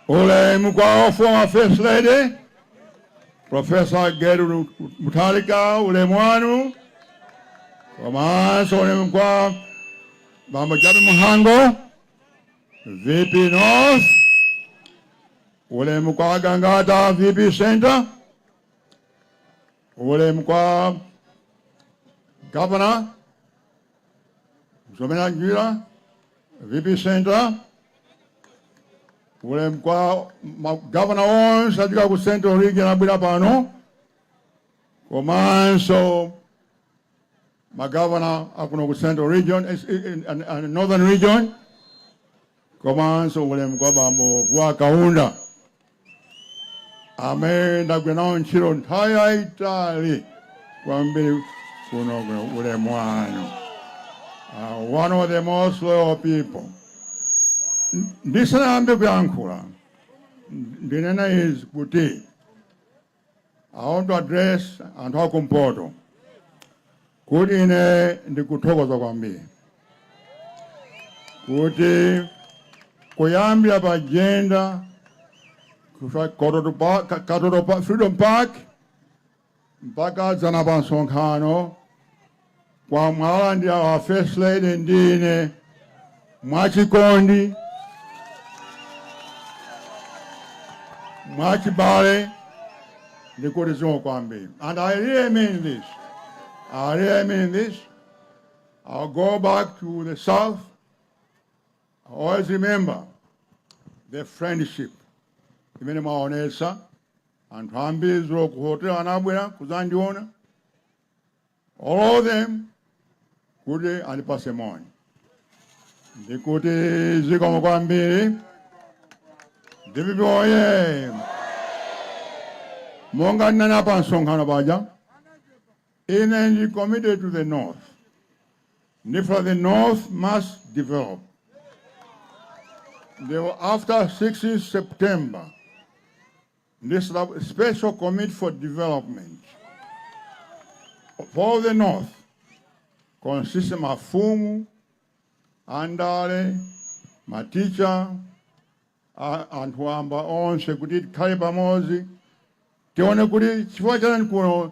Ulemu kwa a former First Lady Profesa Gertrude Mutharika, ulemu wanu komanso ulemu kwa Bambo Jappie Mhango, VP North, ulemu kwa Gangata VP Center, ulemu kwa Governor Zomera Ngwira vp center ulemu kwa magavana onse ochoka ku central region abwera pano komanso magavana akuno ku central region eh, eh, eh, and- and northern region komanso ulemu kwa bambo Vuwa Kaunda amene ndagwira nawo ntchito nthawi yayitali kwambiri kuno ulemu wanu uh, one of the most loyal people N- ndisanayambe kuyankhula ndinena izi kuti I want to address anthu akumpoto kuti ine ndikuthokoza kwambiri kuti kuyambira pa Jenda Katoto Freedom Park mpaka dzana pa msonkhano kwa mwawalandira a First Lady ndi ine mwachikondi, mwachibale ndikuti zikomo kwambiri. And I really mean this. I really mean this. I'll go back to the South. I always remember the friendship imene mwaonesa anthu ambiri dzulo ku hotel anabwera kuzandiona All of them kuti andipatse moni ndikuti zikomo kwambiri dpp oye monga ndinanena pa msonkhano paja ine ndi committed to the north ndifuna the north must develop ndipo after 16 september ndi Special Committee for Development for the North consist of mafumu, andale, maticha, anthu wamba onse kuti tikhale pamodzi tione kuti chifukwa chani kuno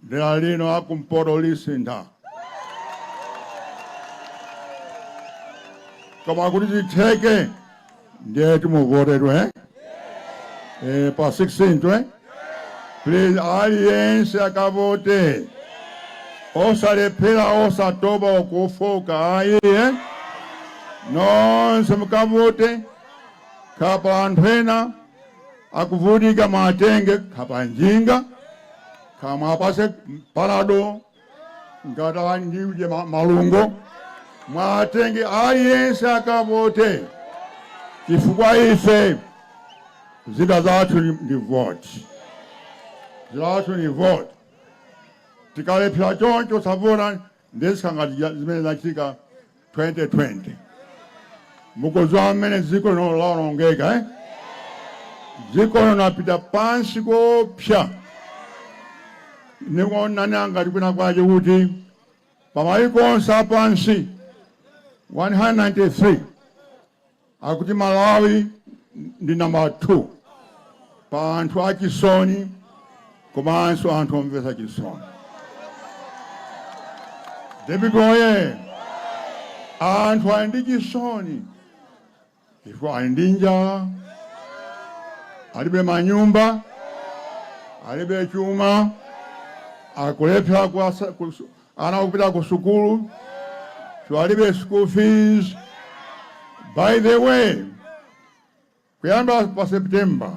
Dera lino la kumpoto lisintha. Koma kuti zitheke ndiye timuvotere eh, pa 16 twe please, aliyense akavote osalephera osatopa osafooka ayi eh? nonse mukavote kapena anthu ena Akuvutika muwatenge kaya pa njinga kaya muwapatse panado ngati ali ndi uje ma- malungo muwatenge aliyense akavote chifukwa ife zida zathu ni- ndi vote zida zathu ni vote tikalephera choncho osavota ndiye zikhala ngati ja- zimene zinachitika 2020 mukudziwa mmene dziko lino laonongekera eh? dziko lino lapita pansi koopsa ndikuona ngati kwina kwake kuti pamayiko onse apansi 193 Akuti Malawi ndi namba 2 pa anthu achisoni komanso anthu omvetsa chisoni. DPP oye! Anthu ali ndi chisoni chifukwa ali ndi njala, alibe manyumba, alibe chuma, akulephera Ana kupita kusukulu chifukwa alibe school fees. By the way, kuyamba pa September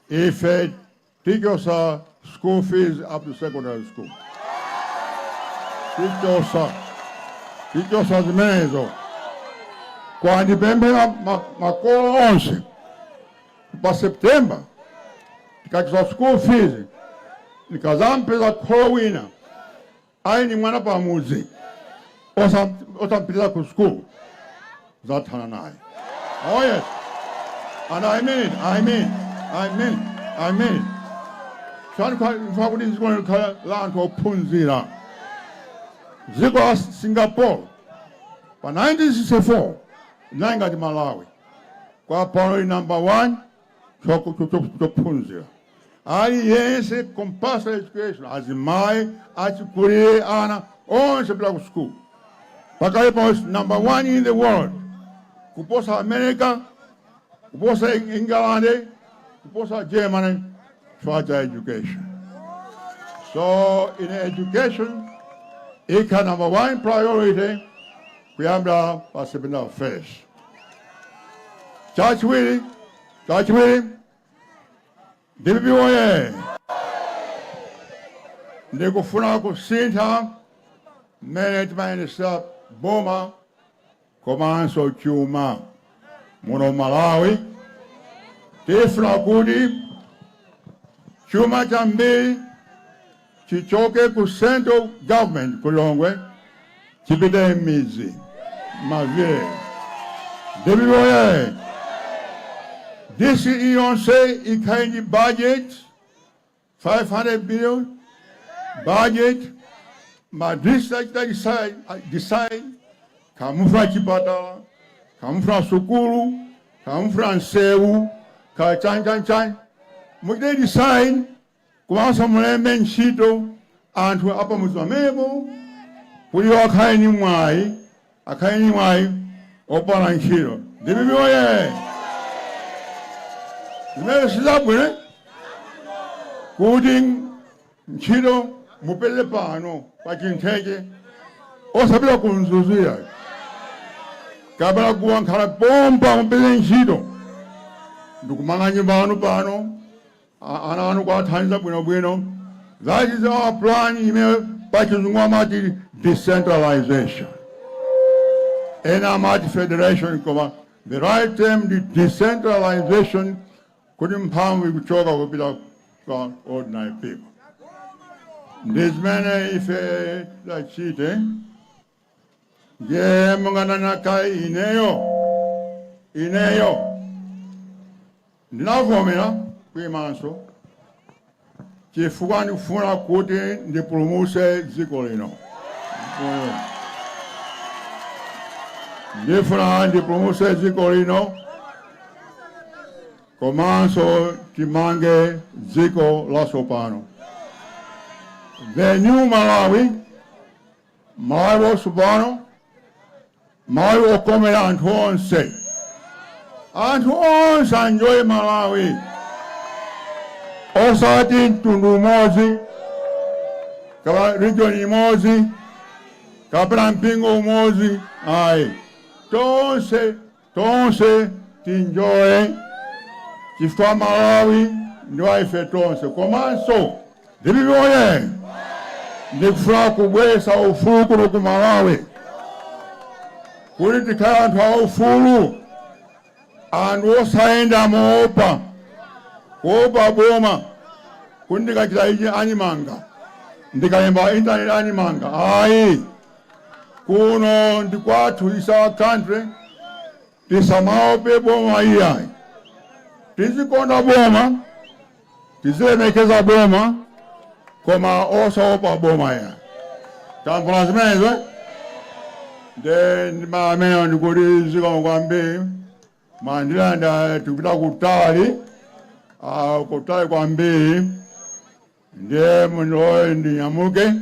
ife tichotsa school fees up to secondary school. Tichotsa tichotsa zimenezo koma ndipemphe ma- makolo onse pa September tikachotsa school fees ndikazampeza kholo wina ali ni mwana pamudzi osam- osampititsa ku school ndizathana naye oh yes and i mean it, i mean it, i mean it, i mean it. ndifuna kuti dziko likhale la anthu ophunzira dziko la singapore mu 1964 linali ngati malawi koma priority number one choku- cho- cho- chophunzira aliyense compulsory education azimayi achikulire ana onse kupita ku school pakali pano number one in the world kuposa america kuposa Eng- england kuposa germany chifukwa cha education so in education ikhala number one priority kuyambira pa September 1st. Chachiwiri, chachiwiri, DPP woye! Ndikufuna kusintha mmene timayendetsera boma komanso chuma muno Malawi. Tifuna kuti chuma chambiri chichoke ku central government ku Lilongwe chipite mmidzi, mma village. Dpp woyee! DC iliyonse ikhale ndi budget 500 billion, budget ma district achita decide kamufuna chipatala, kamufuna sukulu, kamufuna nsewu, kachanchanchan. Muchite decide Komanso mulembe ntchito anthu a pamudzi pamenepo kuti iwo akhale ndi mwayi akhale ndi mwayi opala ntchito. Dpp woyee! Zimenezi ndizabwino kuti ntchito mupeze pano pa Chintheche osapita ku Mzuzu yayi kapena kuwa nkhala pompa mupeze ntchito ndikumanga nyumba yanu pano ana anu kuwathandiza bwinobwino that is our plan imene pachizungu amati decentralization ena amati federation koma the right term ndi decentralization kuti mphamvu ikuchoka kupita kwa ordinary people ndi zimene ife tachite ndiye monga ndanena kale ineyo ineyo ndinavomera kuyimanso chifukwa ndikufuna kuti ndipulumutse dziko lino. Ndifuna ndipulumutse dziko lino komanso timange dziko latsopano the new malawi Malawi watsopano, Malawi wokomera anthu onse. Anthu onse aenjoye Malawi, osati mtundu umodzi kapena region imodzi kapena mpingo umodzi ayi, tonse Tonse tienjoye chifukwa Malawi ndi wa ife tonse komanso dpp woyee! Ndikufuna kubweza ufulu kuno ku Malawi kuti tikhale anthu aufulu, anthu osayenda moopa kuopa boma kuti ndikachita ichi andimanga, ndikalemba pa intaneti andimanga ayi. Kuno ndi kwathu is our country tisamaope boma iyayi tizikonda boma tizilemekeza boma koma osaopa boma ya tamvana zimenezo nde ndimamene ndikuti zikomo kwambiri mwandilandira tikupita kutali ah, kutali kwambiri ndiye mundiloye ndinyamuke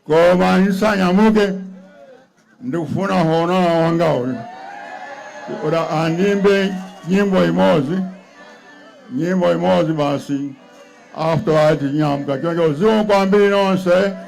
Koma nisanyamuke ndikufuna honourable wanga uyu kuti andimbe nyimbo imodzi nyimbo imodzi basi after that tinyamuka choncho zikomo kwambiri nonse